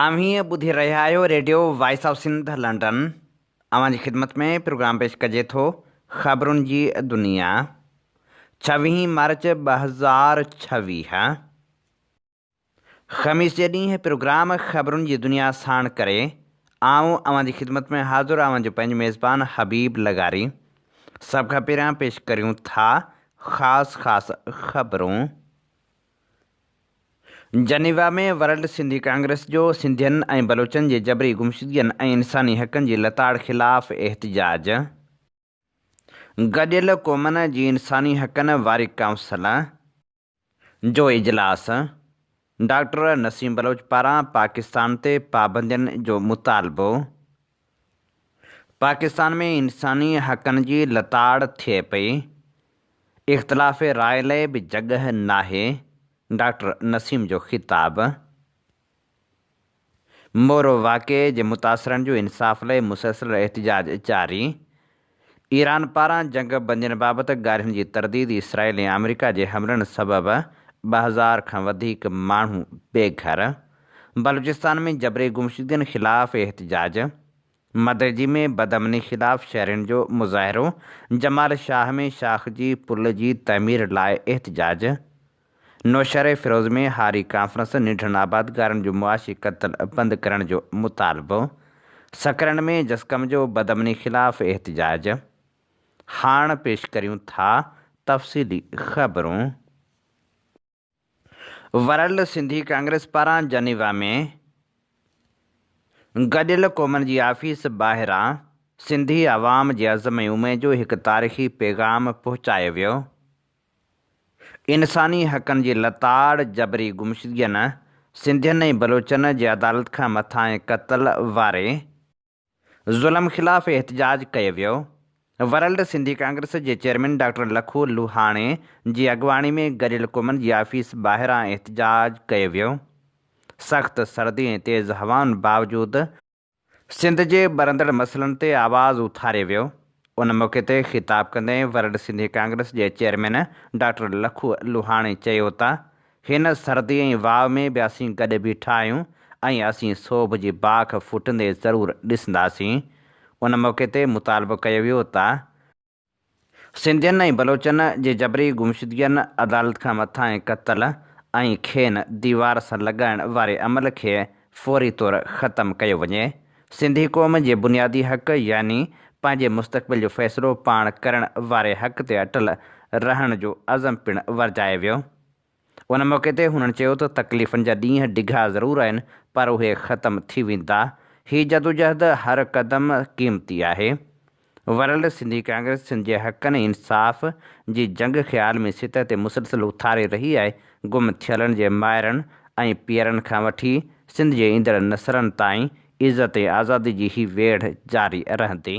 اوهين ٻڌي رهيا آهيو radio voice of Sindh London اوهان جي خدمت ۾ پروگرام پيش ڪجي ٿو خبرن جي دنيا ڇويهين مارچ ٻه هزار ڇويهه خميس جي ڏينهن پروگرام خبرن جي دنيا ساڻ ڪري آئون اوهان جي خدمت ۾ حاضر اوهان جو پنهنجو ميزبان حبيب لغاري سڀ کان پهريان پيش ڪريون ٿا خاص خاص خبرون. جنيوا ۾ ورلڊ سنڌي ڪانگريس جو سنڌين ۽ بلوچن جي جبري گمشدگين ۽ انساني حقن جي لتاڙ خلاف احتجاج، گڏيل قومن جي انساني حقن واري ڪائونسل جو اجلاس، ڊاڪٽر نسيم بلوچ پاران پاڪستان تي پابندين جو مطالبو، پاڪستان ۾ انساني حقن جي لتاڙ ٿئي پئي، اختلاف راء لئه به جڳهه ناهي، ڊاڪٽر نسيم جو خطاب. مورو واقعي جي متاثرن جو انصاف لئه مسلسل احتجاج جاري، ايران پاران جنگ بندين بابت ڳالهين جي ترديد اسرائيل ۽ آمريڪا جي حملن سبب ٻه هزار کان وڌيڪ ماڻهو بي گهر، بلوچستان ۾ جبري گمشدگين خلاف احتجاج، مدئجي ۾ بدامني خلاف شهرين جو مظاهرو، جمال شاهه ۾ شاخ جي پل جي تعمير لاء احتجاج، نوشهري فيروز ۾ هاري ڪانفرنس، ننڊن آبادگارن جو معاشي قتل بند ڪرڻ جو مطالبو، سکرن ۾ جسقم جو بدامني خلاف احتجاج، هاڻ پيش ڪريون ٿا تفصيلي خبرون. ورلڊ سنڌي ڪانگريس پاران جنيوا ۾ گڏيل قومن جي آفيس ٻاهران سنڌي عوام جي عزم ۽ اميد جو هڪ تاريخي پيغام پهچايو ويو. انساني حقن جي لتاڙ، جبري گمشدگين، سنڌين ۽ بلوچن جي عدالت کان مٿانهين قتل واري ظلم خلاف احتجاج ڪيو ويو، ورلڊ سنڌي ڪانگريس جي چيئرمين ڊاڪٽر لکو لوهاڻي جي اڳواڻي ۾ گڏيل قومن جي آفيس ٻاهران احتجاج ڪيو ويو، سخت سردي ۽ تيز هوائن باوجود، سنڌ جي ٻرندڙ مسئلن تي آواز اٿاري ويو. ان موقعي تي خطاب ڪندي ورلڊ سنڌي ڪانگريس جي چيئرمين ڊاڪٽر لکو لوهاڻي چيو ته هن سردي ۽ واء ۾ به اسين گڏ بيٺا آهيون ۽ اسين سوڀ جي باک ڦٽندي ضرور ڏسنداسين. ان موقعي تي مطالبو ڪيو ويو ته سنڌين ۽ بلوچن جي جبري گمشدگين، عدالت کان مٿانهين قتل ۽ کين ديوار سان لڳائڻ واري عمل کي فوري طور ختم ڪيو وڃي. سنڌي قوم جي بنيادي حق يعني پنهنجي مستقبل جو فيصلو پاڻ ڪرڻ واري حق تي اٽل رهڻ جو عزم پڻ ورجائي ويو. ان موقعي تي هنن چيو ته تڪليفن جا ڏينهن ڊگها ضرور آهن پر اهي ختم ٿي ويندا، هي جدوجهد هر قدم قيمتي آهي، ورلڊ سنڌي ڪانگريس سنڌ جي حقن ۽ انصاف جي جنگ کي عالمي سطح تي مسلسل اٿاري رهي آهي، گم ٿيلن جي مائرن ۽ پيئرن کان وٺي سنڌ جي ايندڙ نسلن تائين عزت ۽ آزادي جي هي ويڙهه جاري رهندي،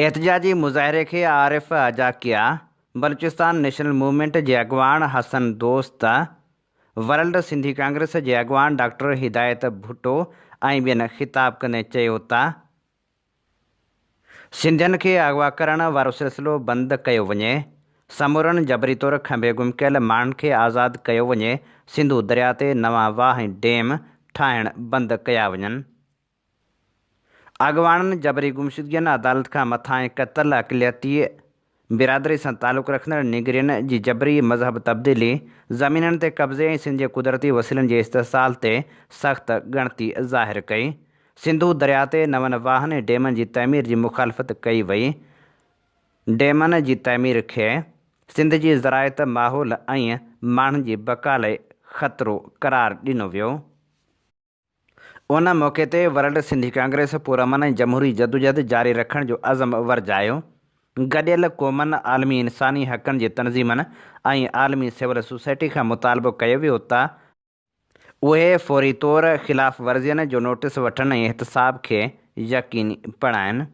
احتجاجي مظاهري کي عارف اجاڪيا، بلوچستان نيشنل موومينٽ جي اڳواڻ حسن دوست، ورلڊ سنڌي ڪانگريس جي اڳواڻ ڊاڪٽر هدايت ڀٽو ۽ ٻين خطاب ڪندي چيو ته سنڌين کي اغوا ڪرڻ وارو سلسلو بند ڪيو وڃي، سمورن جبري طور کنڀي گم ڪيل ماڻهن کي آزاد ڪيو وڃي، سنڌو درياء تي نوان واهه ۽ ڊيم ٺاهڻ بند ڪيا وڃن. اڳواڻن جبري گمشدگين، عدالت کان مٿانهين قتل، اقليتي برادري سان تعلق رکندڙ نيگرين جي جبري مذهب تبديلي، زمينن تي قبضي ۽ سنڌ جي قدرتي وسيلن جي استحصال تي سخت ڳڻتي ظاهر ڪئي. سنڌو درياء تي نون واهن ۽ ڊيمن جي تعمير جي مخالفت ڪئي وئي. ڊيمن جي تعمير کي سنڌ جي زراعت، ماحول ۽ ماڻهن جي بقا لاء خطرو قرار ڏنو ويو. ان موقعي تي ورلڊ سنڌي ڪانگريس پرامن ۽ جمهوري جدوجهد جاري رکڻ جو عزم ورجايو. گڏيل قومن، عالمي انساني حقن جي تنظيمن ۽ عالمي سول سوسائٽي کان مطالبو ڪيو ويو ته، اهي فوري طور خلاف ورزين جو نوٽيس وٺن ۽ احتساب کي يقيني بڻائن.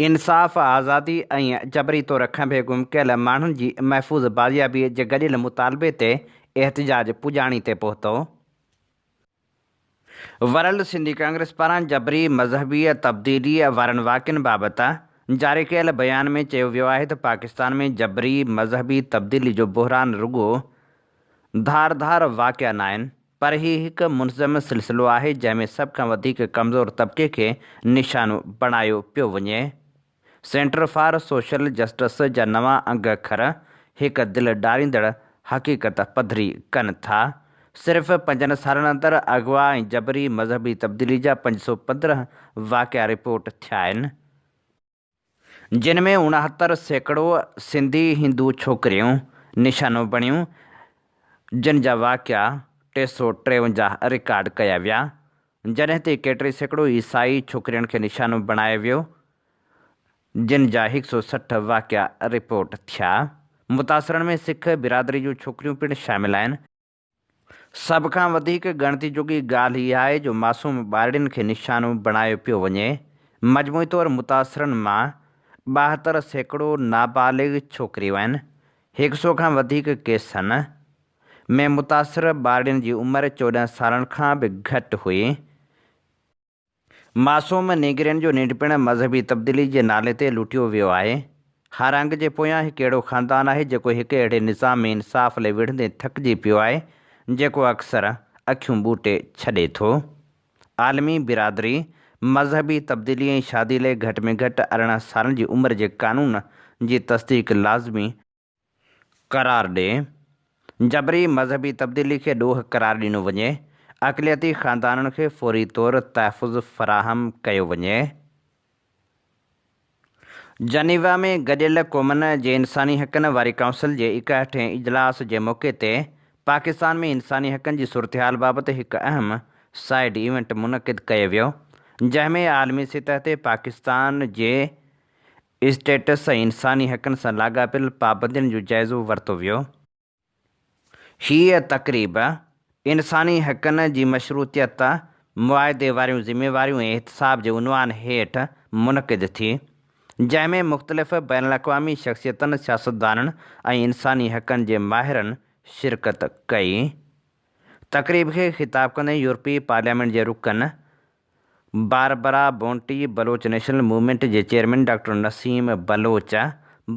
انصاف، آزادي ۽ جبري طور کنڀي گم ڪيل ماڻهن جي محفوظ بازيابي جي گڏيل مطالبي تي احتجاج پڄاڻي تي پهتو. ورلڊ سنڌي ڪانگريس پاران جبري مذهبي تبديلي وارن واقعن بابت جاري ڪيل بيان ۾ چيو ويو آهي ته پاڪستان ۾ جبري مذهبي تبديلي جو بحران رڳو ڌار ڌار واقعا ناهن پر هي هڪ منظم سلسلو آهي جنهن ۾ سڀ کان وڌيڪ ڪمزور طبقي کي نشانو بڻايو پيو وڃي. سينٽر فار سوشل جسٽس جا نوان انگ اکر هڪ دل ڊاريندڙ حقيقت پڌري ڪن ٿا. صرف پنجن سالن اندر اغوا ۽ جبري مذهبي تبديلي جا پنج سؤ پندرهن واقعا رپورٽ ٿيا آهن. جن ۾ اڻهتر سيڪڙو سنڌي هندو ڇوڪريون نشانو بڻيون، جن جا واقعا ٽي سؤ ٽيونجاهه رڪارڊ ڪيا ويا، جڏهن ته ايڪهٽري سيڪڙو عيسائي ڇوڪرين کي نشانو بڻايو ويو، جن جا هڪ سؤ سٺ واقعا رپورٽ ٿيا. متاثرن ۾ سک برادري جون ڇوڪريون پڻ شامل آهن. سڀ کان وڌيڪ ڳڻتي جوڳي ڳالهه اها آهي جو معصوم ٻارڙين کي نشانو بڻايو پيو وڃي، مجموعي طور متاثرن مان ٻاهتر سيڪڙو نابالغ ڇوڪريون آهن، هڪ سئو کان وڌيڪ ڪيسن ۾ متاثر ٻارڙين جي عمر چوڏهن سالن کان به گهٽ هئي، معصوم نيگرين جو ننڊ پڻ مذهبي تبديلي جي نالي تي لٽيو ويو آهي. هارانگ جي پويان هڪ اهڙو خاندان آهي جيڪو هڪ اهڙي نظام ۾ انصاف لئي وڙهندي ٿڪجي پيو آهي جيڪو اڪثر اکيون ٻوٽي ڇڏي ٿو. عالمي برادري مذهبي تبديلي ۽ شادي لئي گهٽ ۾ گهٽ ارڙهن سالن جي عمر جي قانون جي تصديق لازمي قرار ڏي، جبري مذهبي تبديلي کي ڏوهه قرار ڏنو وڃي، اقليتي خاندانن کي فوري طور تحفظ فراهم ڪيو وڃي. جنيوا ۾ گڏيل قومن جي انساني حقن واري ڪائونسل جي ايڪاهٺين اجلاس جي موقعي تي پاڪستان ۾ انساني حقن جي صورتحال بابت هڪ اهم سائيڊ ايونٽ منعقد ڪيو ويو، جنهن ۾ عالمي سطح تي پاڪستان جي اسٽيٽس ۽ انساني حقن سان لاڳاپيل پابندين جو جائزو ورتو ويو. هيء تقريب انساني حقن جي مشروطيت، معاهدي واريون ذميواريون ۽ احتساب جي عنوان هيٺ منعقد ٿي، جنهن ۾ مختلف بين الاقوامي شخصيتن، سياستدانن ۽ انساني حقن جي ماهرن شرڪت ڪئي. تقريب کي خطاب ڪندي يورپي پارليامينٽ جي رڪن Barbara Bonte Baloch national movement جي چيئرمين ڊاڪٽر نسيم بلوچ،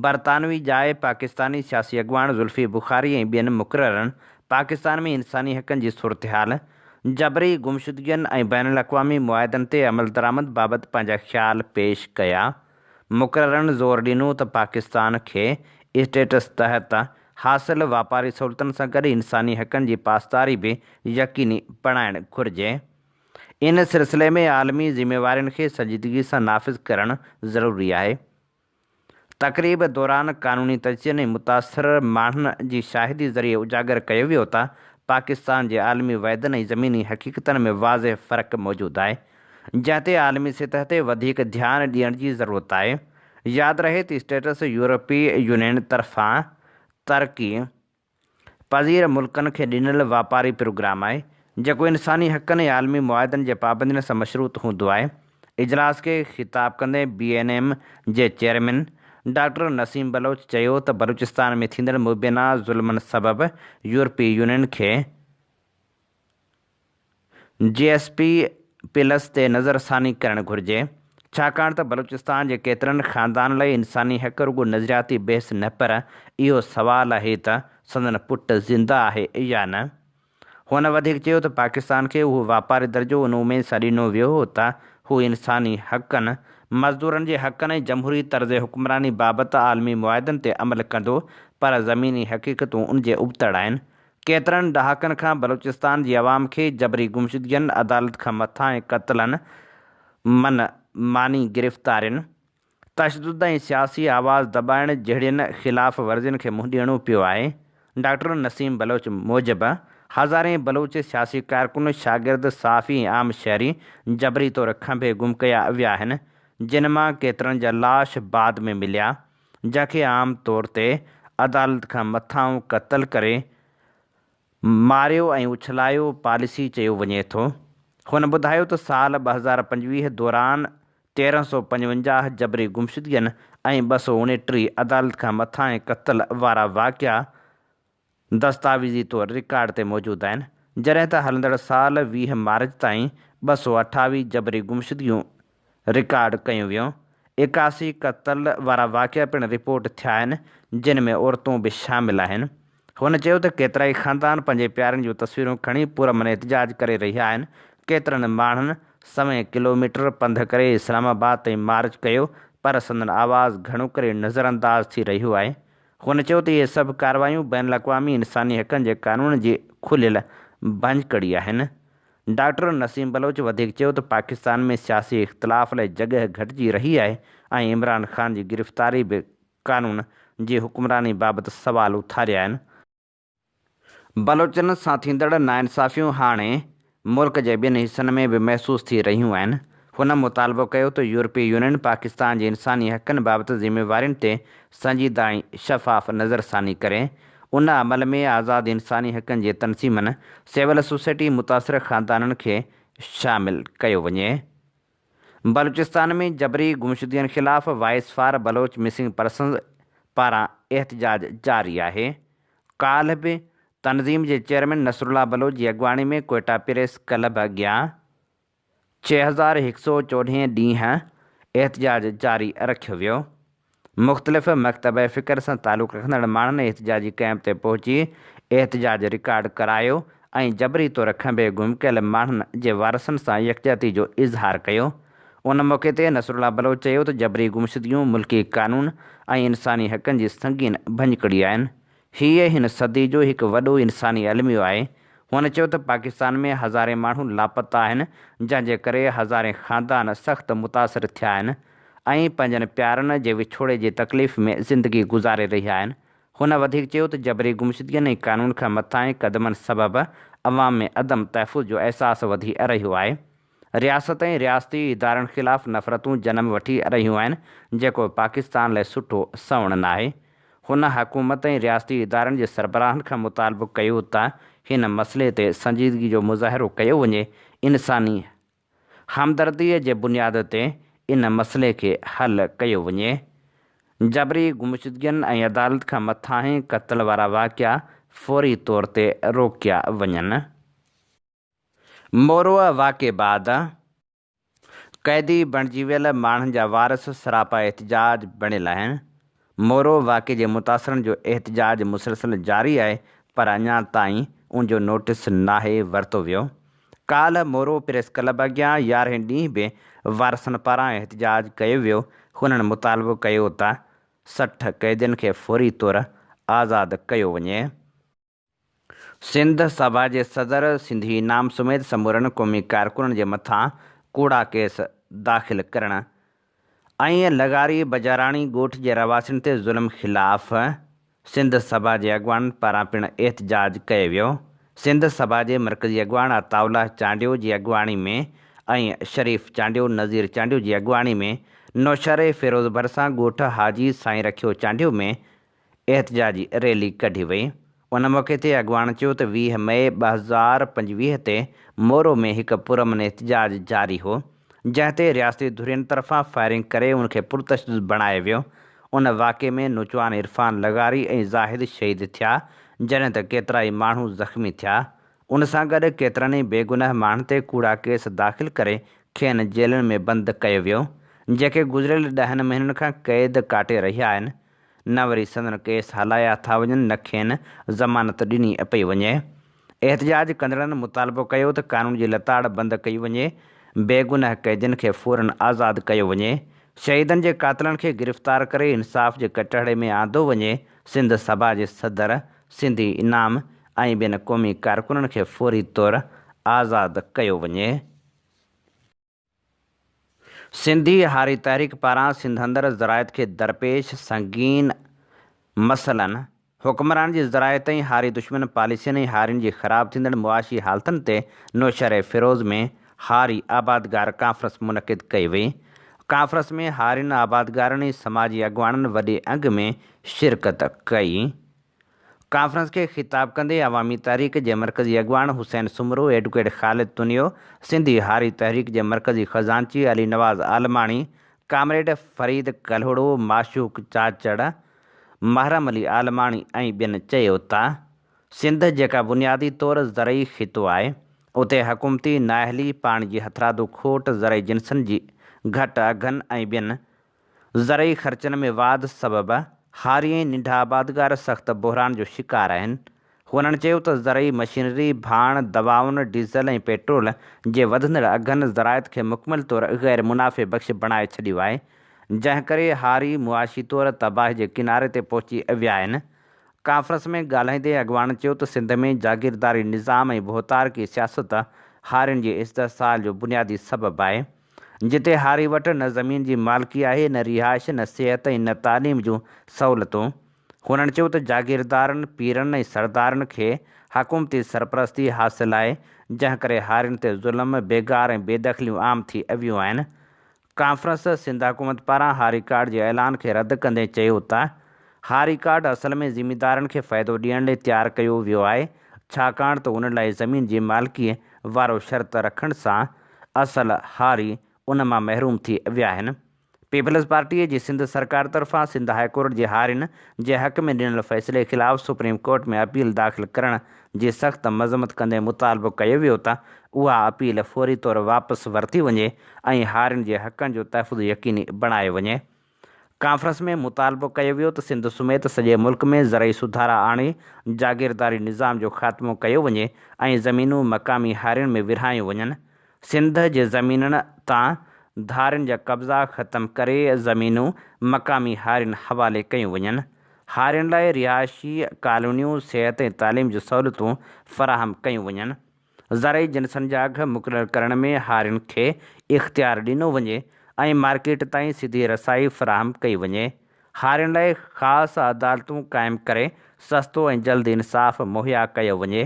برطانوي جاء پاڪستاني سياسي اڳواڻ ذوالفي بخاري ۽ ٻين مقررن پاڪستان ۾ انساني حقن جي صورتحال، جبري گمشدگين ۽ بين الاقوامي معاهدن تي عملدرآمد بابت پنهنجا خيال پيش ڪيا. مقررن زور ڏنو ته پاڪستان کي اسٽيٽس تحت حاصل واپاري سهولتن سان گڏ انساني حقن جي پاسداري به يقيني بڻائڻ گهرجي. ان سلسلي ۾ عالمي ذميوارين کي سنجيدگي سان نافذ ڪرڻ ضروري آهي. تقريب دوران قانوني تجزين ۽ متاثر ماڻهن جي شاهدي ذريعي اجاگر ڪيو ويو ته پاڪستان جي عالمي وعدن ۽ زميني حقيقتن ۾ واضح فرق موجود آهي، جنهن تي عالمي سطح تي وڌيڪ ڌيان ڏيڻ جي ضرورت آهي. ياد رهي ته اسٽيٽس يورپي يونين طرفان ترڪي، پذير ملڪن کي ڏنل واپاري پروگرام آهي، جيڪو انساني حقن ۽ عالمي معاهدن جي پابندين سان مشروط هوندو آهي. اجلاس کي خطاب ڪندي بي اين ايم جي چيئرمين ڊاڪٽر نسيم بلوچ چيو ته بلوچستان ۾ ٿيندڙ مبينا ظلمن سبب يورپي يونين کي جي ايس پي پلس تي نظرثاني ڪرڻ گهرجي، ڇاڪاڻ ته بلوچستان جي ڪيترن خاندانن لاء انساني حق رڳو نظرياتي بحث نه پر اهو سوال آهي ته سندن پٽ زنده آهي يا نه؟ هن وڌيڪ چيو ته پاڪستان کي اهو واپاري درجو ان اميد سان ڏنو ويو هو ته هو انساني حقن، مزدورن جي حقن ۽ جمهوري طرز حڪمراني بابت عالمي معاهدن تي عمل ڪندو پر زميني حقيقتون ان جي ابتڙ آهن، ڪيترن ڏهاڪن کان بلوچستان جي عوام کي جبري گمشدگين، عدالت کان مٿان ۽ قتلن، من ماني گرفتارين، تشدد ۽ سياسي آواز دٻائڻ جهڙين خلاف ورزين کي منهن ڏيڻو پيو آهي. ڊاڪٽر نسيم بلوچ موجب هزارين بلوچ سياسي ڪارڪن، شاگرد، صحافي ۽ عام شهري جبري طور کنڀي گم ڪيا ويا آهن، جن مان ڪيترن جا لاش بعد ۾ مليا جنهن کي عام طور تي عدالت کان مٿانهون قتل ڪري ماريو ۽ اڇلايو پاليسي چيو وڃي ٿو. هن ٻڌايو ته سال ٻه هزار پنجويهه دوران تيرهن سؤ پنجونجاهه جبري گمشدگين ۽ ٻه سؤ اڻٽيهه عدالت کان مٿانهين قتل وارا واقعا دستاويزي طور رڪارڊ تي موجود آهن، جڏهن ته هلندڙ سال ويهه مارچ تائين ٻه سؤ اٺاويهه جبري گمشدگيون رڪارڊ ڪيون ويون، ايڪاسي قتل وارا واقعا پڻ رپورٽ ٿيا آهن، جن ۾ عورتون به شامل آهن. هن چيو ته ڪيترائي خاندان پنهنجي پيارن جون تصويرون کڻي پرامن احتجاج ڪري رهيا آهن، ڪيترن ماڻهن سوين ڪلوميٽر پنڌ ڪري اسلام آباد تائين مارچ ڪيو پر سندن آواز گهڻو ڪري نظرانداز ٿي رهيو آهي، هن چيو ته اهي سڀ ڪارروايون بين الاقوامي انساني حقن جي قانون جي کليل ڀڃڪڙي آهن. ڊاڪٽر نسيم بلوچ وڌيڪ چيو ته پاڪستان ۾ سياسي اختلاف لاء جڳهه گهٽجي رهي آهي ۽ عمران خان جي گرفتاري به قانون جي حڪمراني بابت سوال اٿاريا آهن. بلوچن سان ٿيندڙ ناانصافيون هاڻي ملڪ جي ٻين حصن ۾ به محسوس ٿي رهيون آهن. هن مطالبو ڪيو ته يورپي يونين پاڪستان جي انساني حقن بابت ذميوارين تي سنجيده ۽ شفاف نظر ثاني ڪري. ان عمل ۾ آزاد انساني حقن جي تنظيمن، سول سوسائٽي، متاثر خاندانن کي شامل ڪيو وڃي. بلوچستان ۾ جبري گمشدگين خلاف voice for Baloch missing persons پاران احتجاج جاري آهي، ڪالهه به تنظيم جي چيئرمين نصرالله بلوچ جي اڳواڻي ۾ ڪوئٽا پريس ڪلب اڳيان ڇهه هزار هڪ سؤ چوڏهين ڏينهن احتجاج جاري رکيو ويو. مختلف مڪتب فڪر سان تعلق رکندڙ ماڻهن احتجاجي ڪئمپ تي پهچي احتجاج رڪارڊ ڪرايو ۽ جبري طور کنڀي گم ڪيل ماڻهن جي وارثن سان يڪجهتي جو اظهار ڪيو. ان موقعي تي نصرالله بلوچ چيو ته جبري گمشدگيون ملڪي قانون ۽ انساني حقن جي سنگين ڀڃڪڙي آهن، هيء هن صدي جو هڪ وڏو انساني الميو آهي. هن چيو ته پاڪستان ۾ هزارين ماڻهو لاپتا آهن، جنهن جي ڪري هزارين خاندان سخت متاثر ٿيا آهن ۽ پنهنجن پيارن جي وڇوڙي جي تڪليف ۾ زندگي گذاري رهيا آهن. هن وڌيڪ چيو ته جبري گمشدگين ۽ قانون کان مٿانهين قدمن سبب عوام ۾ عدم تحفظ جو احساس وڌي رهيو آهي. رياست ۽ رياستي ادارن خلاف نفرتون جنم وٺي رهيون آهن، جيڪو پاڪستان لاء سٺو سنئوڻ ناهي. هن حڪومت ۽ رياستي ادارن جي سربراهن کان مطالبو ڪيو ته هن مسئلي تي سنجيدگي جو مظاهرو ڪيو وڃي، انساني همدردي جي بنياد تي ان مسئلي کي حل ڪيو وڃي. جبري گمشدگين ۽ عدالت کان مٿانهين قتل وارا واقعا فوري طور تي روڪيا وڃن. مورو واقعي بعد قيدي بڻجي ويل ماڻهن جا وارث سراپا احتجاج بڻيل آهن، مورو واقعي جي متاثرن جو احتجاج مسلسل جاري آهي پر اڃا تائين ان جو نوٽيس ناهي ورتو ويو، ڪالهه مورو پريس ڪلب اڳيان يارهين ڏينهن به وارثن پاران احتجاج ڪيو ويو، هنن مطالبو ڪيو ته سٺ قيدين کي فوري طور آزاد ڪيو وڃي. سنڌ سڀا جي صدر سنڌي نام سميت سمورن قومي ڪارڪنن جي مٿان ڪوڙا ڪيس داخل ڪرڻ ۽ لغاري بجاراڻي ڳوٺ جي رهواسين تي ظلم خلاف سنڌ سڀا جي اڳواڻن پاران پڻ احتجاج ڪيو ويو سنڌ سڀا جي مرڪزي اڳواڻ عطاء الله چانڊيو جي اڳواڻي ۾ ۽ شريف چانڊيو نظير چانڊيو جي اڳواڻي ۾ نوشهري فيروز ڀرسان ڳوٺ حاجي سائين رکيو چانڊيو ۾ احتجاجي ريلي ڪڍي وئي. ان موقعي تي اڳواڻ چيو ته ويهه مئي ٻه هزار پنجويهه تي مورو ۾ هڪ پرامن احتجاج جاري هو، جنهن تي رياستي ڌرين طرفان فائرنگ ڪري ان کي پرتشدد بڻايو ويو. ان واقعي ۾ نوچوان عرفان لغاري ۽ زاهد شهيد ٿيا، جڏهن ته ڪيترائي ماڻهو زخمي ٿيا. ان سان گڏ ڪيترن ئي بيگناهه ماڻهن تي ڪوڙا ڪيس داخل ڪري کين جيلن ۾ بند ڪيو ويو، جيڪي گذريل ڏهن مهينن کان قيد ڪاٽي رهيا آهن، نه وري سندن ڪيس هلايا ٿا وڃن نه کين ضمانت ڏني پئي وڃي. احتجاج ڪندڙن مطالبو ڪيو ته قانون جي لتاڙ بند ڪئي وڃي، بيگناهه قيدين کي فورا آزاد ڪيو وڃي، شهيدن جي قاتلن کي گرفتار ڪري انصاف جي ڪٽهڙي ۾ آندو وڃي، سنڌ سڀا جي صدر، سنڌي انعام ۽ ٻين قومي ڪارڪنن کي فوري طور آزاد ڪيو وڃي. سنڌي هاري تحريڪ پاران سنڌ اندر زراعت کي درپيش سنگين مسئلن، حڪمرانن جي زراعت ۽ هاري دشمن پاليسين ۽ هارين جي خراب ٿيندڙ معاشي حالتن تي نوشهريفيروز ۾ هاري آبادگار ڪانفرنس منعقد ڪئي وئي. ڪانفرنس ۾ هارين آبادگارن ۽ سماجي اڳواڻن وڏي انگ ۾ شرڪت ڪئي. ڪانفرنس کي خطاب ڪندي عوامي تحريڪ جي مرڪزي اڳواڻ حسين سومرو، ايڊوڪيٽ خالد تنيو، سنڌي هاري تحريڪ جي مرڪزي خزانچي علي نواز عالماڻي، ڪامريڊ فريد ڪلهوڙو، معشوق چاچڙ، محرم علي عالماڻي ۽ ٻين چيو ته سنڌ جيڪا بنيادي طور زرعي خطو آهي اتي حڪومتي نااهلي، پاڻي جي هٿرادو کوٽ، زرعي جنسن جي گهٽ اگهن ۽ ٻين زرعي خرچن ۾ واڌ سبب هاري ۽ ننڍا آبادگار سخت بحران جو شڪار آهن. هونئن چيو ته زرعي مشينري، ڀاڻ، دوائن، ڊيزل ۽ پيٽرول جي وڌندڙ اگهن زراعت کي مڪمل طور غير منافعي بخش بڻائي ڇڏيو آهي، جنهن ڪري هاري معاشي طور تباهي جي ڪناري تي پهچي ويا آهن. ڪانفرنس ۾ ڳالهائيندي اڳواڻن چيو ته سنڌ ۾ جاگيرداري نظام ۽ ڀوتارڪي سياست هارين جي استحصال جو بنيادي سبب آهي. جتي هاري وٽ نه زمين جي مالڪي آهي، نه رهائش، نه صحت ۽ نه تعليم جون سهولتون. هنن چيو ته جاگيردارن، پيرن ۽ سردارن کي حڪومتي سرپرستي حاصل آهي، جنهن ڪري هارين تي ظلم، بيگار ۽ بيدخليون عام ٿي اويون آهن. ڪانفرنس سنڌ حڪومت پاران هاري ڪارڊ جي اعلان کي رد ڪندي چيو ته هاري ڪارڊ اصل ۾ زميندارن کي فائدو ڏيڻ لئي تيار ڪيو ويو آهي، ڇاڪاڻ ته ان لاء زمين جي مالڪي وارو شرط رکڻ سان اصل هاري ان مان محروم ٿي ويا آهن. پيپلز پارٽيء جي سنڌ سرڪار طرفان سنڌ هاء ڪورٽ جي هارين جي حق ۾ ڏنل فيصلي خلاف سپريم ڪورٽ ۾ اپيل داخل ڪرڻ جي سخت مذمت ڪندي مطالبو ڪيو ويو ته اها اپيل فوري طور واپس ورتي وڃي ۽ هارين جي حقن جو تحفظ يقيني بڻايو وڃي. ڪانفرنس ۾ مطالبو ڪيو ويو ته سنڌ سميت سڄي ملڪ ۾ زرعي سڌارا آڻي جاگيرداري نظام جو خاتمو ڪيو وڃي ۽ زمينون مقامي هارين ۾ ورهايون وڃن، سنڌ جي زمينن تان ڌارين جا قبضا ختم ڪري زمينون مقامي هارين حوالي ڪيون وڃن، هارين لاء رهائشي ڪالونيون، صحت ۽ تعليم جون سهولتون فراهم ڪيون وڃن. زرعي جنسن جا اگهه مقرر ڪرڻ ۾ هارين کي اختيار ڏنو وڃي ۽ مارڪيٽ تائين سڌي رسائي فراهم ڪئي وڃي. هارين لاء خاص عدالتون قائم ڪري سستو ۽ جلد انصاف مهيا ڪيو وڃي.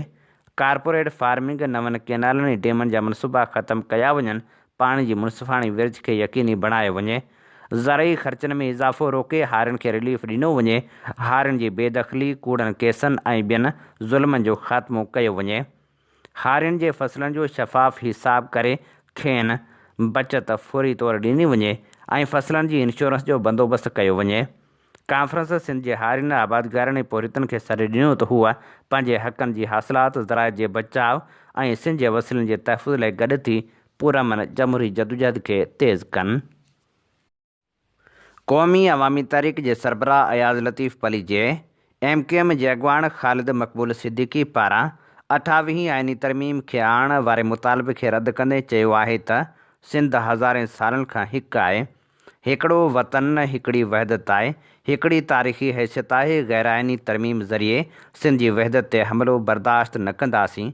ڪارپوريٽ فارمنگ، نون ڪينالن ۽ ڊيمن جا منصوبا ختم ڪيا وڃن پاڻي جي منصفاڻي ورڇ کي يقيني بڻايو وڃي، زرعي خرچن ۾ اضافو روڪي هارين کي رليف ڏنو وڃي، هارين جي بي دخلي، ڪوڙن ڪيسن ۽ ٻين ظلمن جو خاتمو ڪيو وڃي، هارين جي فصلن جو شفاف حساب ڪري کين بچت فوري طور ڏني وڃي ۽ فصلن جي انشورنس جو بندوبست ڪيو وڃي. ڪانفرنس سنڌ جي هارين، آبادگارن ۽ پورهيتن کي سڏ ڏنو ته هو پنهنجي حقن جي حاصلات، زراعت جي بچاء ۽ سنڌ جي وسيلن جي تحفظ لاء گڏ ٿي پرامن جمهوري جدوجهد کي تيز ڪن. قومي عوامي تحريڪ جي سربراهه Ayaz Latif Palijo, M Q M جي اڳواڻ خالد مقبول صديقي پاران اٺاويهين آئيني ترميم کي آڻڻ واري مطالبي کي رد ڪندي چيو آهي ته سنڌ هزارين سالن کان هڪ آهي هڪڙو وطن، هڪڙي وحدت آهي، هڪڙي تاريخي حيثيت آهي، غيرآئيني ترميم ذريعي سنڌ جي وحدت تي حملو برداشت نه ڪنداسين،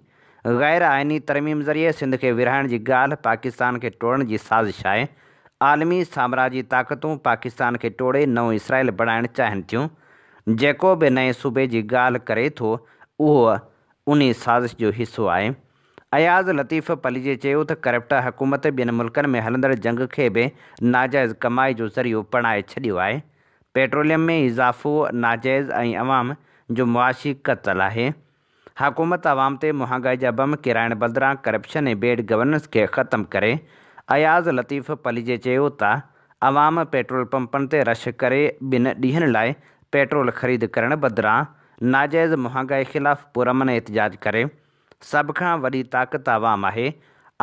غير آئيني ترميم ذريعي سنڌ کي ورهائڻ جي ڳالهه پاڪستان کي ٽوڙڻ جي سازش آهي، عالمي سامراجي طاقتون پاڪستان کي ٽوڙي نئون اسرائيل بڻائڻ چاهين ٿيون، جيڪو به نئين صوبي جي ڳالهه ڪري ٿو اهو انهي سازش جو حصو آهي، اياز لطيف پليجي چيو ته ڪرپٽ حڪومت ٻين ملڪن ۾ هلندڙ جنگ کي به ناجائز ڪمائي جو ذريعو بڻائي ڇڏيو آهي، پيٽروليم ۾ اضافو ناجائز ۽ عوام جو معاشي قتل آهي، حڪومت عوام تي مهانگائي جا بم ڪيرائڻ بدران ڪرپشن ۽ بيڊ گورننس کي ختم ڪري، اياز لطيف پليجي چيو ته عوام پيٽرول پمپن تي رش ڪري ٻن ڏينهن لاء پيٽرول خريد ڪرڻ بدران ناجائز مهانگائي خلاف پرامن احتجاج ڪري، سڀ کان وڏي طاقت عوام آهي،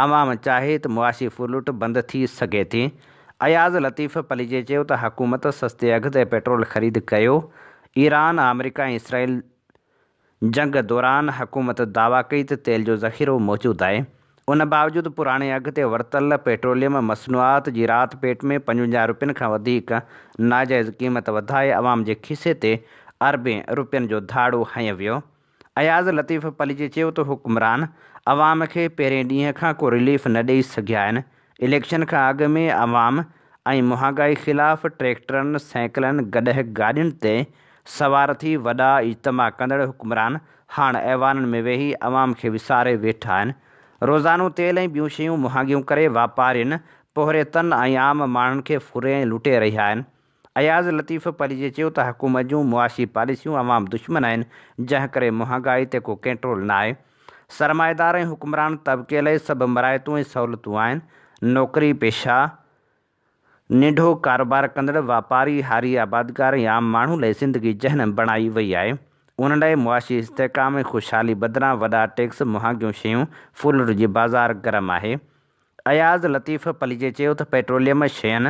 عوام چاهي ته معاشي ڦرلٽ بند ٿي سگهي ٿي. اياز لطيف پليجي چيو ته حڪومت سستي اگهه تي پيٽرول خريد ڪيو، ايران، آمريڪا ۽ اسرائيل جنگ دوران حڪومت دعويٰ ڪئي ته تيل جو ذخيرو موجود آهي، ان باوجود پراڻي اگهه تي ورتل پيٽروليم مصنوعات جي رات پيٽ ۾ پنجونجاهه رپين کان وڌيڪ ناجائز قيمت وڌائي عوام جي کيسي تي اربين رپين جو ڌاڙو هنيو ويو. اياز لطيف پليجي چيو ته حڪمران عوام کي پهرين ڏينهن کان ڪو رليف نه ڏئي سگهيا آهن، اليڪشن کان اڳ ۾ عوام ۽ مهانگائي خلاف ٽريڪٽرن، سائيڪلن، گڏهه گاڏين تي سوار ٿي وڏا اجتماع ڪندڙ حڪمران هاڻ ايوانن ۾ ويهي عوام کي وساري ويٺا آهن، روزانو تيل ۽ ٻيون شيون مهانگيون ڪري واپارين، پوهريتن ۽ عام ماڻهن کي ڦري ۽ لٽي رهيا آهن. اياز لطيف پليجي چيو ته حڪومت جون معاشي پاليسيون عوام دشمن آهن جنهن ڪري مهانگائي تي ڪو ڪنٽرول نه آهي، سرمائيدار ۽ حڪمران طبقي لئه سڀ مراعتون ۽ سهولتون آهن، نوڪري پيشه، ننڍو ڪاروبار ڪندڙ، واپاري، هاري آبادگار ۽ عام ماڻهو لئه زندگي جهنم بڻائي وئي آهي، انهن لئه معاشي استحڪام ۽ خوشحالي بدران وڏا ٽيڪس، مهانگيون شيون، فولڊ جي بازار گرم آهي. اياز لطيف پليجي چيو ته پيٽروليم شين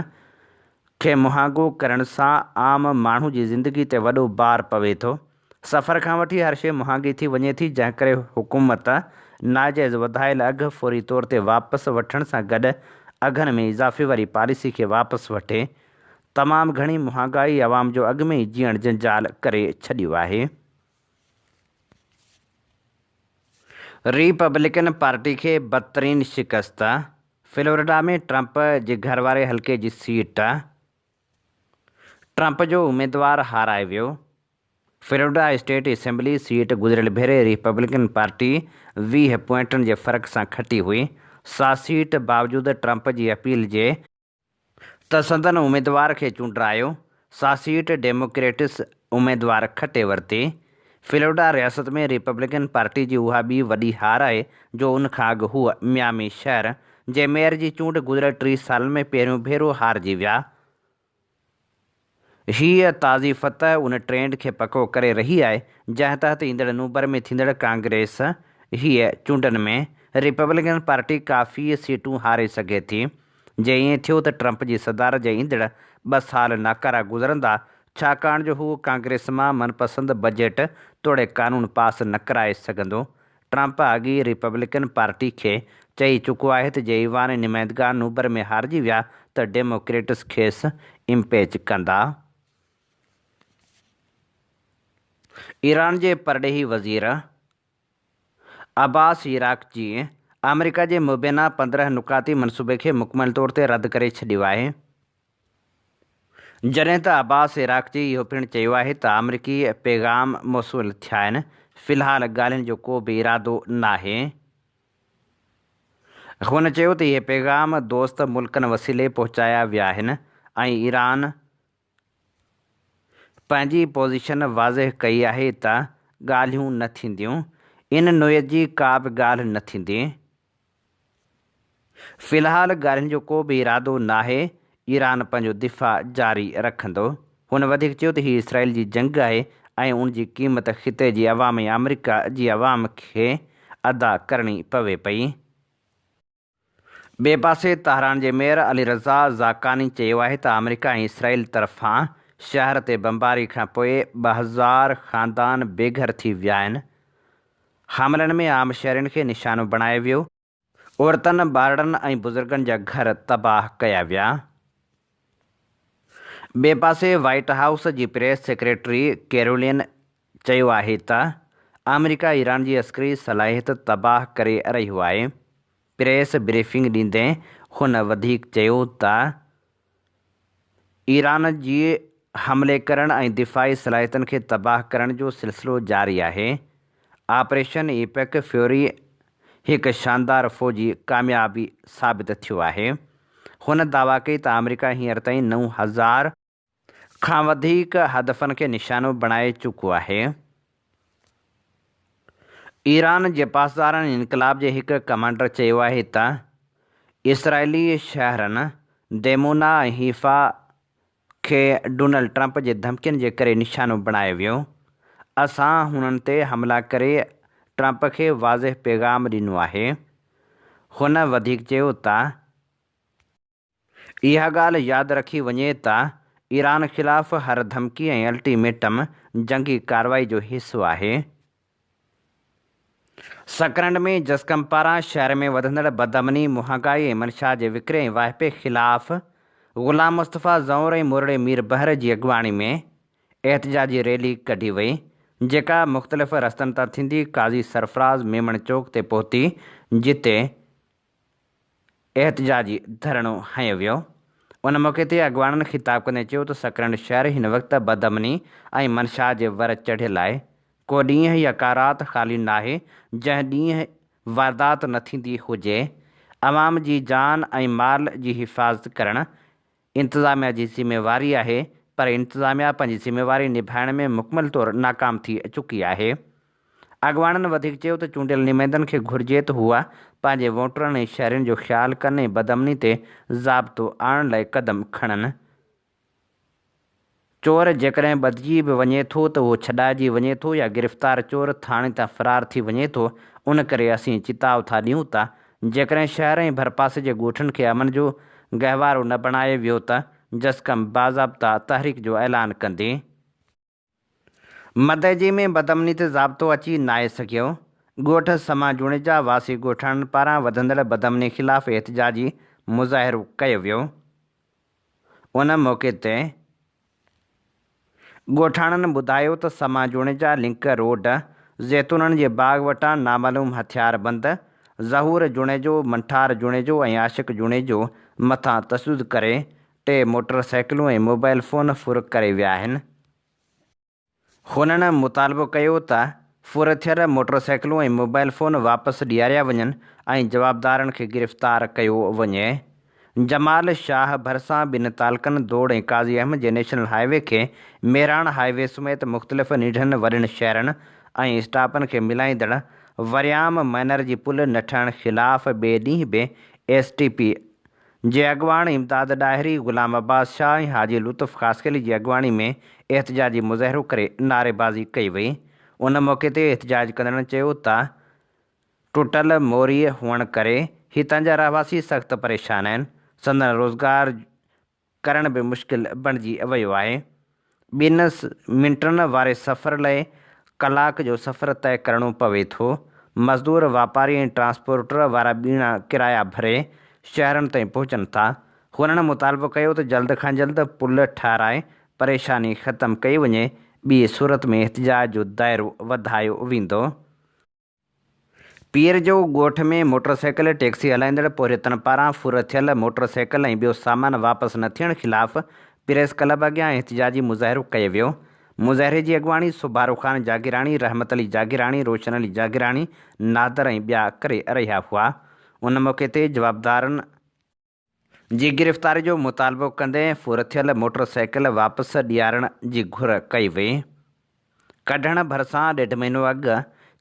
کي مهانگو ڪرڻ سان عام ماڻهو جي زندگي تي وڏو بار پوي ٿو، سفر کان وٺي هر شيء مهانگي ٿي وڃي ٿي جنهن ڪري حڪومت ناجائز وڌايل اگهه فوري طور تي واپس وٺڻ سان گڏ اگهن ۾ اضافي واري پاليسي کي واپس وٺي تمام گهڻي مهانگائي عوام جو اڳ ۾ ئي جيئڻ جنجال ڪري ڇڏيو آهي. ريپبلڪن پارٽي کي بدترين شڪست، فلوريڊا ۾ ٽرمپ جي گهر واري حلقي جي سيٽ ٽرمپ جو اميدوار هارائي ويو، فلوريڊا اسٽيٽ اسيمبلي سيٽ گذريل ڀيري ريپبلڪن پارٽي ويهه پوائنٽن جي فرق سان کٽي هئي، سا سيٽ باوجود ٽرمپ جي اپيل جي. ته سندن اميدوار کي چونڊرايو، سا سيٽ ڊيموڪريٽس اميدوار کٽي ورتي. فلورڊا رياست ۾ ريپبلڪن پارٽي جي اها ٻي وڏي هار آهي جو ان کان اڳ هو ميامي شهر جي ميئر جي چونڊ گذريل ٽي سالن ۾ پهريون ڀيرو هارجي ويا. هيء تازي فتح ان ٽرينڊ کي پڪو ڪري رهي آهي، جنهن تحت ايندڙ نومبر ۾ ٿيندڙ ڪانگريس هيء چونڊن ۾ ريپبلڪن پارٽي ڪافي سيٽون هاري سگهي ٿي. جي ائين ٿيو ته ٽرمپ جي صدارت جا ايندڙ ٻه سال ناڪارا گذرندا، ڇاڪاڻ جو هو ڪانگريس مان من پسند بجيٽ توڙي قانون پاس نه ڪرائي سگهندو، ٽرمپ اڳي ئي ريپبلڪن پارٽي کي چئي چڪو آهي ته جي ايوان ۽ نمائندگان نوبر ۾ هارجي ويا ته ڊيموڪريٽس کيس امپيچ ڪندا. ايران جي پرڏيهي وزير عباس عراقچيء آمريڪا جي مبينا پندرهن نقاطي منصوبي کي مڪمل طور تي رد ڪري ڇڏيو آهي. جڏهن ته عباس عراقچي اهو پڻ چيو آهي ته آمريڪي پيغام موصول ٿيا آهن، في الحال ڳالهين جو ڪو به ارادو ناهي. هن چيو ته اهي پيغام دوست ملڪن وسيلي پهچايا ويا آهن ۽ ايران پنهنجي پوزيشن واضح ڪئي آهي ته ڳالهيون نه ٿينديون، ان نوعيت جي ڪا به ڳالهه نه ٿيندي. في الحال ڳالهين جو ڪو به ارادو ناهي، ايران پنهنجو دفاع جاري رکندو. هن وڌيڪ چيو ته هي اسرائيل جي جنگ آهي ۽ ان جي قيمت خطي جي عوام ۽ آمريڪا جي عوام کي ادا ڪرڻي پوي پئي. ٻئي پاسي تهران جي ميئر علي رضا زاڪاني چيو آهي ته آمريڪا ۽ اسرائيل طرفان شهر تي بمباري کانپوء ٻه هزار خاندان بيگهر ٿي ويا آهن. حاملن ۾ عام شھرين کي نشانو بڻايو ويو، عورتن، ٻارڙن ۽ بزرگن جا گھر تباھ ڪيا ويا. ٻئي پاسي وائيٽ ھائوس جي پريس سيڪريٽري ڪيرولين چيو آھي ته آمريڪا ايران جي عسڪري صلاحيت تباھ ڪري رھيو آھي. پريس بريفنگ ڏيندي ھن وڌيڪ چيو ته ايران جي حملي ڪرڻ ۽ دفاعي صلاحيتن کي تباهه ڪرڻ جو سلسلو جاري آهي. آپريشن ايپڪ فيوري هڪ شاندار فوجي ڪاميابي ثابت ٿيو آهي. هن دعويٰ ڪئي ته آمريڪا هينئر تائين نو هزار کان وڌيڪ هدفن کي نشانو بڻائي چڪو آهي. ايران جي پاسداران انقلاب جي هڪ ڪمانڊر چيو آهي ته اسرائيلي شهرن ديمونا ۽ حيفا کي ڊونلڊ ٽرمپ جي ڌمڪين جي ڪري نشانو بڻايو ويو، اسان هنن تي حملا ڪري ٽرمپ کي واضح پيغام ڏنو آهي. هن وڌيڪ چيو ته. اها ڳالهه ياد رکي وڃي ته ايران خلاف هر ڌمڪي ۽ الٽي ميٽم جنگي ڪارروائي جو حصو آهي. سڪرنڊ ۾ جسقم پاران شهر ۾ وڌندڙ بدامني، مهانگائي ۽ منشا جي وڪري ۽ واهپي خلاف غلام مصطفيٰ زئور ۽ مورڙي مير بحر جي اڳواڻي ۾ احتجاجي ريلي ڪڍي وئي، جيڪا مختلف رستن تان ٿيندي قاضي سرفراز ميمڻ چوڪ تي پهتي جتي احتجاجي ڌرڻو هنيو ويو. ان موقعي تي اڳواڻن خطاب ڪندي چيو ته سڪرنڊ شهر هن وقت بدامني ۽ منشا جي ور چڙهيل آهي، ڪو ڏينهن يا ڪا رات خالي ناهي جنهن ڏينهن واردات نه ٿيندي هجي، عوام جي جان ۽ مال جي حفاظت ڪرڻ انتظاميا جي ذميواري آهي پر انتظاميا پنهنجي ذميواري نڀائڻ ۾ مڪمل طور ناڪام ٿي چڪي آهي. اڳواڻن وڌيڪ چيو ته چونڊيل نمائندن کي گهرجي ته هو پنهنجي ووٽرن ۽ شهرين جو خيال ڪن ۽ بدامني تي ضابطو آڻڻ لاء قدم کڻن. چور جيڪڏهن ٻڌجي به وڃي ٿو ته اهو ڇڏائجي وڃي ٿو يا گرفتار چور ٿاڻي تان فرار ٿي وڃي ٿو، ان ڪري اسين چتاء ٿا ڏيون ته جيڪڏهن شهر ۽ ڀرپاسي جي ڳوٺن کي امن جو گهوارو نه بڻايو ويو ته جسقم باضابطا تحريڪ جو اعلان ڪندي. مدئجي ۾ بدامني تي ضابطو اچي ناهي سگهيو، ڳوٺ سما جوڻيجا واسي ڳوٺاڻن پاران وڌندڙ بدامني خلاف احتجاجي مظاهرو ڪيو ويو، ان موقعي تي ڳوٺاڻن ٻڌايو ته سما جوڻيجا لنڪ روڊ زيتونن جي باغ وٽان نامعلوم هٿياربند ظهور جوڻيجو، منٺار جوڻيجو ۽ عاشق جوڻيجو مٿان تشدد ڪري ٽي موٽر سائيڪلون ۽ موبائيل فون ڦر ڪري ويا آهن. هنن مطالبو ڪيو ته ڦر ٿيل موٽرسائيڪلون ۽ موبائيل فون واپس ڏياريا وڃن ۽ جوابدارن کي گرفتار ڪيو وڃي. جمال شاهه ڀرسان ٻن تعلقن دوڙ ۽ قاضي احمد جي نيشنل هاء وي کي ميراڻ هاء وي سميت مختلف نيڍن وڏن شهرن ۽ اسٽاپن کي ملائيندڙ وريام مئنر جي پل نه ٺهڻ خلاف ٻئي ڏينهن به ايس ٽي پي جي اڳواڻ امداد ڏاهري، غلام عباس شاهه ۽ حاجي لطف خاصخيلي جي اڳواڻي ۾ احتجاجي مظاهرو ڪري نعريبازي ڪئي وئي. ان موقعي تي احتجاج ڪندڙن چيو ته ٽٽل موريء هئڻ ڪري هتان جا رهواسي سخت پريشان آهن، سندن روزگار ڪرڻ به مشڪل بڻجي ويو آهي. ٻن منٽن واري سفر لئه ڪلاڪ جو سفر طئه ڪرڻو پوي ٿو. مزدور، واپاري ۽ ٽرانسپورٽر وارا ٻيڻا ڪرايا ڀري شهرن تائين پهچن ٿا. هنن مطالبو ڪيو ته جلد کان جلد پل ٺهرائي پريشاني ختم ڪئي وڃي، ٻي صورت ۾ احتجاج جو دائرو وڌايو ويندو. پير جو ڳوٺ ۾ موٽرسائيڪل ٽيڪسي هلائيندڙ پورهيتن پاران ڦر ٿيل موٽرسائيڪل ۽ ٻيو سامان واپس نه ٿيڻ خلاف پريس ڪلب اڳيان احتجاجي مظاهرو ڪيو ويو. مظاهري جي اڳواڻي سوڀارو خان جاگيراڻي، رحمت علي جاگيراڻي، روشن علي جاگيراڻي، نادر ۽ ٻيا ڪري رهيا هئا. ان موقعي تي جوابدارن. جي گرفتاري جو مطالبو ڪندي ڦرٿيل موٽر سائيڪل واپس ڏيارڻ جي گهر ڪئي وئي. ڪڍڻ ڀرسان ڏيڍ مهينو اڳ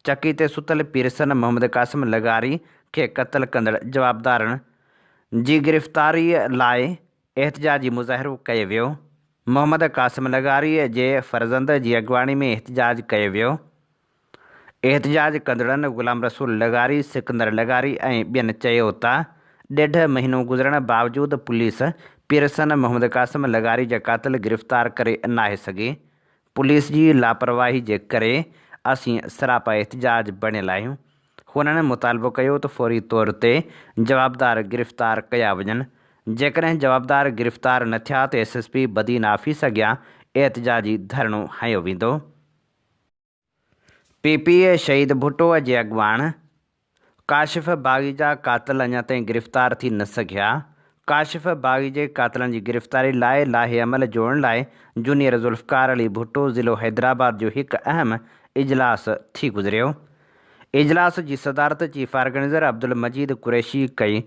چڪي تي ستل پيرسن محمد قاسم لغاري کي قتل ڪندڙ جوابدارن جي گرفتاري لاء احتجاجي مظاهرو ڪيو ويو. محمد قاسم لغاري جي فرزند جي اڳواڻي ۾ احتجاج ڪيو ويو. احتجاج ڪندڙن غلام رسول لغاري، سڪندر لغاري ۽ ٻين چيو ته ڏيڍ مهينو گذرڻ باوجود پوليس پيرسن محمد قاسم لغاري جا قاتل گرفتار ڪري ناهي سگهي، پوليس جي لاپرواهي جي ڪري اسين سراپا احتجاج بڻيل آهيون، هنن مطالبو ڪيو ته فوري طور تي جوابدار گرفتار ڪيا وڃن، جيڪڏهن جوابدار گرفتار نه ٿيا ته S S P Badin office اڳيان احتجاجي ڌرڻو هنيو ويندو. P P P Shaheed Bhutto جي اڳواڻ ڪاشف باغي جا قاتل اڃا تائين گرفتار ٿي نه سگهيا، ڪاشف باغي جي قاتلن جي گرفتاري لاء لائحه عمل جوڙڻ لاء جونيئر ذوالفقار علي ڀٽو ضلعو حيدرآباد جو هڪ اهم اجلاس ٿي گذريو، اجلاس جي صدارت چيف آرگنائيزر عبدالمجيد قريشي ڪئي،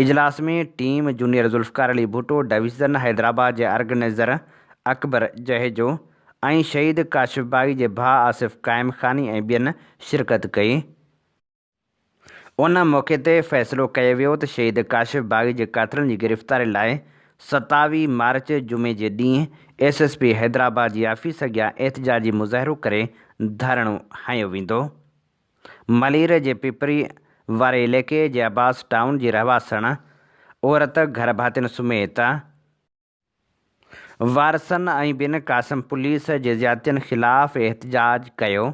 اجلاس ۾ team junior Zulfikar Ali Bhutto, division Hyderabad جي آرگنائيزر اڪبر جهيجو ۽ شهيد ڪاشف باغي جي ڀاء آصف قائم خاني ۽ ٻين شرڪت ڪئي. ان موقعي تي فيصلو ڪيو ويو ته شهيد ڪاشف باغي جي قاتلن جي گرفتاري لاء ستاوي مارچ جمعي جي ڏينهن ايس ايس پي حيدرآباد جي آفيس اڳيان احتجاجي مظاهرو ڪري ڌرڻو هنيو ويندو. ملير جي پيپري واري عليقي جي عباس ٽائون جي رهواسڻ عورت گهر ڀاتين سميت وارثن ۽ بين قاسم پوليس جي زيادتين خلاف احتجاج ڪيو،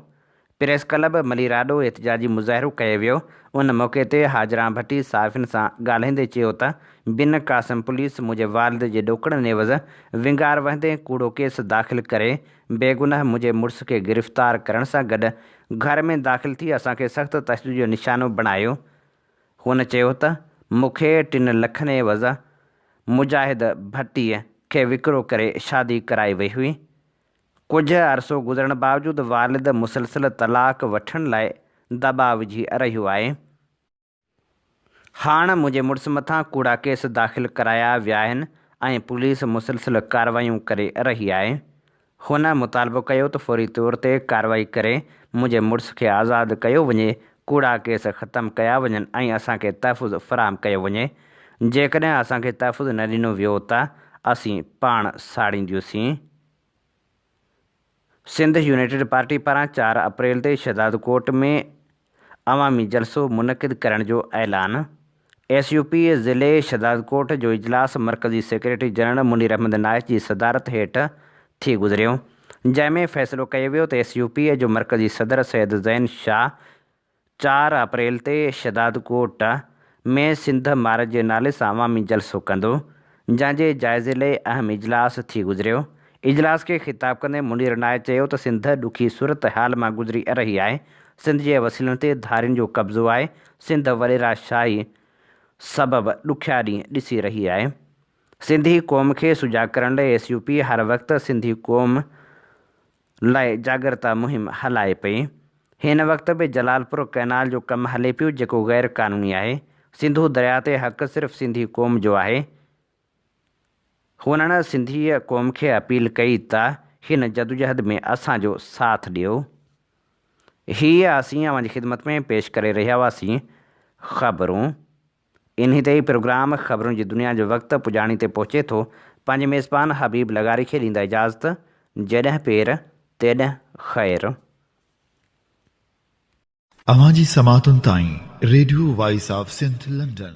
پريس ڪلب مليرآڏو احتجاجي مظاهرو ڪيو ويو، ان موقعي تي حاجران ڀٽي صحافين سان ڳالهائيندي چيو ته بين قاسم پوليس منهنجي والد جي ڏوڪڙن عيوض ونگار وهندي ڪوڙو ڪيس داخل ڪري بيگناهه منهنجي مڙس کي گرفتار ڪرڻ سان گڏ گهر ۾ داخل ٿي اسان کي سخت تشدد جو نشانو بڻايو. هن چيو ته مون کي ٽن لکن عيوض مجاهد ڀٽي کي وڪرو ڪري شادي ڪرائي وئي هئي. ڪجهه عرصو گذرڻ باوجود والد مسلسل طلاق وٺڻ لاء دٻاء وجهي رهيو آهي. هاڻ منهنجي مڙس مٿان ڪوڙا ڪيس داخل ڪرايا ويا آهن ۽ پوليس مسلسل ڪارروايون ڪري رهي آهي. هن مطالبو ڪيو ته فوري طور تي ڪارروائي ڪري منهنجي مڙس کي آزاد ڪيو وڃي، ڪوڙا ڪيس ختم ڪيا وڃن ۽ اسان کي تحفظ فراهم ڪيو وڃي، جيڪڏهن اسان کي تحفظ نه ڏنو ويو ته اسين پاڻ ساڙينديونسين. سنڌ يونائيٽيڊ پارٽي پاران چار اپريل تي شهدادڪوٽ ۾ عوامي جلسو منعقد ڪرڻ جو اعلان، ايس يو پي ضلعي شهدادڪوٽ جو اجلاس مرڪزي سيڪريٽري جنرل منير احمد نائش جي صدارت هيٺ ٿي گذريو، جنهن ۾ فيصلو ڪيو ويو ته ايس يو پي جو مرڪزي صدر سيد زين شاهه، چار اپريل تي شھدادڪوٽ ۾ سنڌ مارچ جي نالي سان عوامي جلسو ڪندو، جنھن جي جائزي لئي اھم اجلاس ٿي گذريو. اجلاس کي خطاب ڪندي منير نائي چيو ته سنڌ ڏکي صورتحال مان گذري رھي آھي، سنڌ جي وسيلن تي ڌارين جو قبضو آھي، سنڌ وڏيرا شاھي سبب ڏکيا ڏينھن ڏسي رھي آھي، سنڌي قوم کي سجاڳ ڪرڻ لئي ايس يو پي ھر وقت سنڌي قوم لاء جاڳرتا مهم هلائي پئي. هن وقت به جلالپور ڪئنال جو ڪم هلي پيو جيڪو غير قانوني آهي. سنڌو درياء تي حق صرف سنڌي قوم جو آهي. هنن سنڌيء قوم کي اپيل ڪئي ته هن جدوجهد ۾ اسان جو ساٿ ڏيو. هيء اسين اوهان جي خدمت ۾ پيش ڪري رهيا هئاسين. خبرون. انهي تي ئي پروگرام خبرون جي دنيا جو وقت پڄاڻي تي پهچي ٿو پنهنجي ميزبان حبيب لغاري کي ڏيندا اجازت جيڏهن پير تيڏهن خير. اوهان جي سماعتن تائين radio voice of Sindh London.